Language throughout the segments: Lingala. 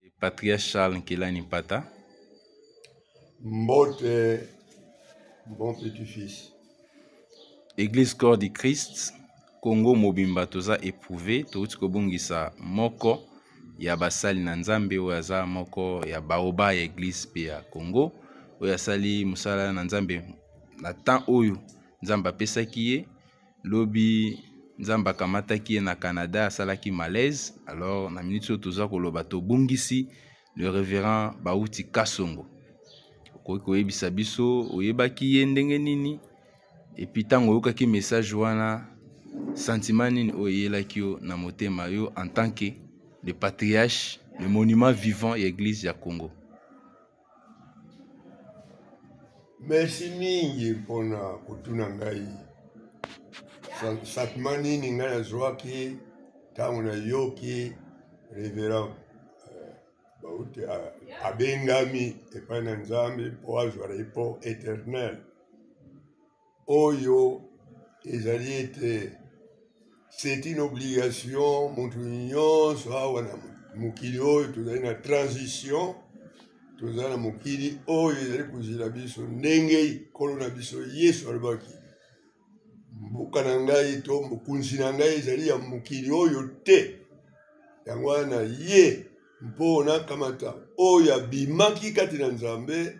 et patriarche Charles Nkelani Pata. Mbote, mbote du fils. Église Corps du Christ, Congo mobimba toza éprouvé, touti kobungisa moko ya basali na Nzambe oyo aza moko ya baoba ya Église pe ya Congo oyo asali mosala na Nzambe na temps oyo Nzambe apesaki ye lobi nzambe akamataki ye na canada asalaki malaise alors na minute oyo toza koloba tobungisi le révérend bauti kasongo okoki koyebisa biso oyebaki ye ndenge nini epuis ntango oyokaki message wana sentiment nini oyo eyelaki yo na motema yo en tant que le patriarche le monument vivant ya eglise ya congo merci mingi mpona kotuna ngai satma nini ngai nazwaki ntango nayoki reverend euh, bauti abengami epai na nzambe mpo azwa repo éternel oyo ezali ete c'est une obligation motu nyonso awa na mokili oyo tozali na transition toza na mokili oyo ezali kozela biso ndenge nkolo na biso yesu alobaki mboka na ngai to mokonzi na ngai ezali ya mokili oyo te yango wana ye mpo nakamata oyo abimaki kati na nzambe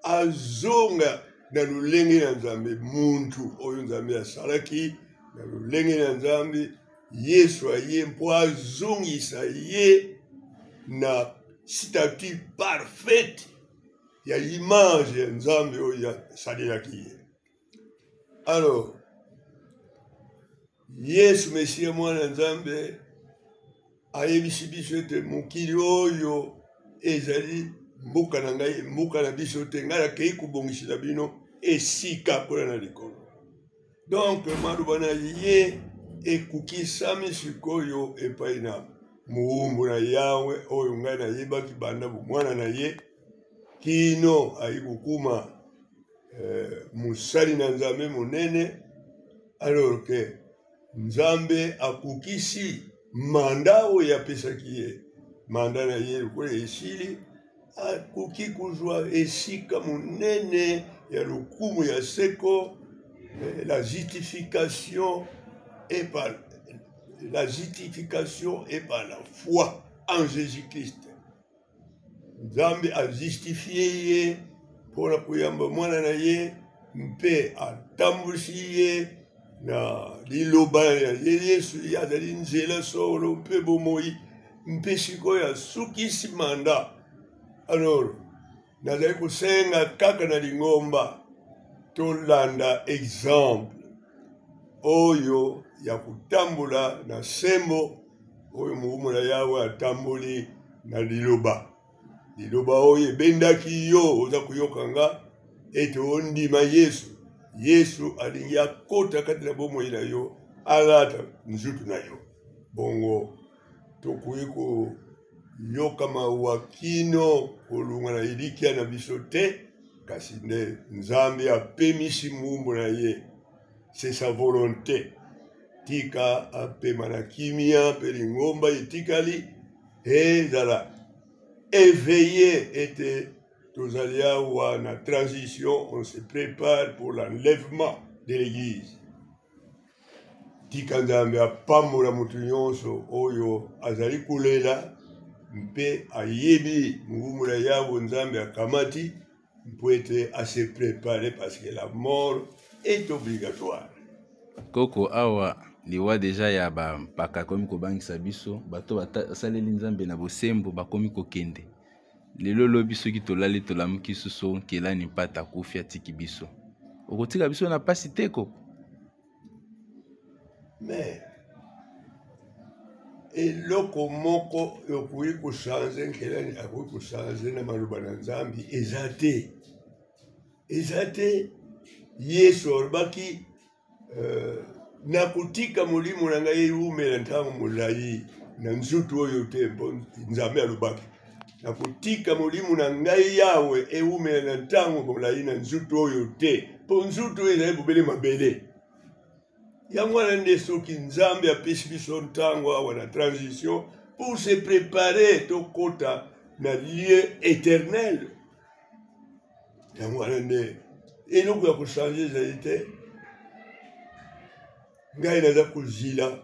azonga na lolenge na nzambe muntu oyo nzambe asalaki na lolenge na nzambe yesu aye mpo azongisa ye na statut parfaite ya image ya nzambe oyo asalelaki ye alors yesu mesiya mwana nzambe ayebisi biso ete mokili oyo ezali mboka na ngai mboka na biso te ngai nakei kobongisela bino esika mpona na likolo donk maloba na ye ekokisami sikoyo epai na mowumbu na yawe oyo ngai nayebaki banda bomwana na ye kino ayi kokuma eh, mosali na nzambe monene alors ke nzambe akokisi manda oyo apesaki ye manda na ye lokola esili akoki kozwa esika monene ya lokumu ya seko eh, la justification et par la justification et par la foi en Jésus-Christ. nzambe ajustifie ye mpo na koyamba mwana na ye mpe atambwisi ye na liloba ya ye yesu ye azali nzela solo mpe bomoi mpe sikoyo asukisi manda alors nazali kosenga kaka na lingomba tolanda exemple oyo ya kotambola na sembo oyo mokumu na yawe atamboli na liloba liloba oyo ebendaki yo oza koyoka nga ete ondima yesu yesu alingi akota kati na bomoi na yo alata nzutu na yo bongo tokoki koyoka mawa kino kolunga na elikya na biso te kasi nde nzambe apemisi mumbu na ye c'est sa volonté tika apema na kimia mpe lingomba etikali ezala éveillé ete tozali awa na transition on se prépare pour l'enlèvement de l'église tika nzambe apambola moto nyonso oyo azali kolela mpe ayebi mobumu na yawe nzambe akamati mpo ete ase prepare parce que la mort est obligatoire koko awa liwa deja ya bampaka akomi kobangisa biso bato basaleli nzambe na bosembo bakomi kokende lelo lobi soki tolali tolamuki susu nkelani mpata akufi atiki biso okotika biso na mpasi te koko mais eloko moko okoki kochange nkelani akoki kochange na maloba na nzambe eza te eza te yesu alobaki euh, nakotika molimo na ngai ewumela ntango molai na nzoto oyo te mpo nzambe alobaki nakotika molimo na ngai yawe ewumela na ntango molai na nzutu oyo te mpo nzutu oyo ezali bobele mabele yango wana nde soki nzambe apesi biso ntango awa na transition pour se préparer tokɔta na lieu éternel yango wana nde eloko ya kochange ezali te ngai naza kozila